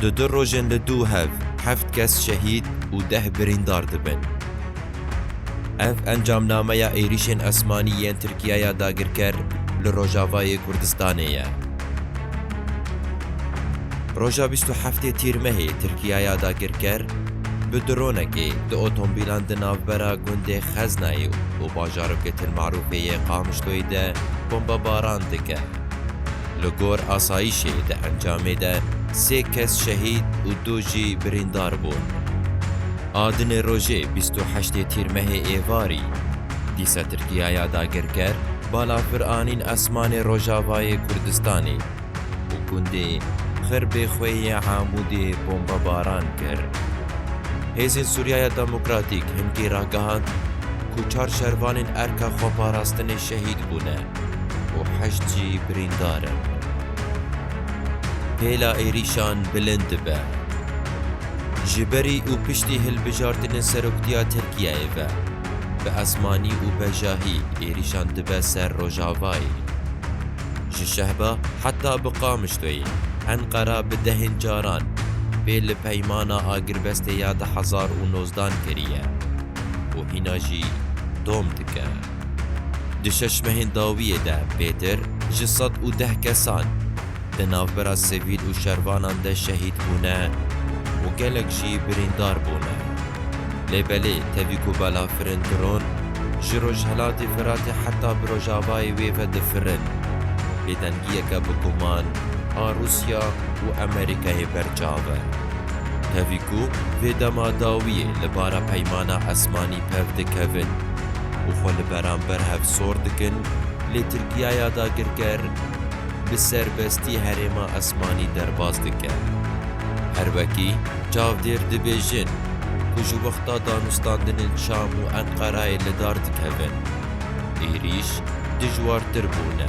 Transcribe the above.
Di du rojên li Dûhev heft kes şehîd û deh birîndar dibin. Ev encamnameya êrîşên esmanî yên Tirkiyaya dagirker li Rojavayê Kurdistanê ye. Roja bîst û heftê Tîrmehê Tirkiyaya dagirker bi dronekê du otomobîlan di navbera gundê Xeznayê û bajarokê Til Marûfê yê Qamişloyê de bombebaran dike. Li gor asayîşê di encamê de sê kes şehîd û du jî birîndar bûn. A dinê rojê bîst û heştê Tîrmehê êvarî, Dîsa Tirkiya ya dagirker bala pir anîn esmanê rojavayê Kurdistanê û gundê Xirbê Xwe yê Amûdê bombebaran kir. Hêzên Sûriyaya Demokratîk hin tê ragihand ku çar şervanên Erka Xweparastinê şehîd bûne. û heşt jî birîndar in. Hêla êrîşan bilind dibe. Ji berî û piştî hilbijartinên seroktîya Tirkiyeyê ve, bi esmanî û bejahî êrîşan dibe ser Rojavayê. Ji Şehba heta bi Qamişloyê, Enqera bi dehên caran pê li peymana agirbestê ya du hezar û nozdan kiriye û hîna jî dom dike. Di şeş mehên dawiyê de pêtir ji sed û deh kesan di navbera sivîl û şervanan de şehîd bûne û gelek jî birîndar bûne. Lê belê tevî ku balafirên dron ji rojhilatê Firatê heta bi rojavayê wê ve difirin, bêdengiyeke bi guman a Rûsya û Amerîkayê ber çav e. Tevî ku vê dema dawiyê li bara peymana esmanî pev dikevin û xwe li beramber hevsor dikin lê Tirkiyaya dagirker bi serbestî herêma esmanî derbas dike. Her wekî çavdêr dibêjin ku ji wexta danûstandinên Şam û Enqerayê li dar dikevin, êrîş dijwartir bûne.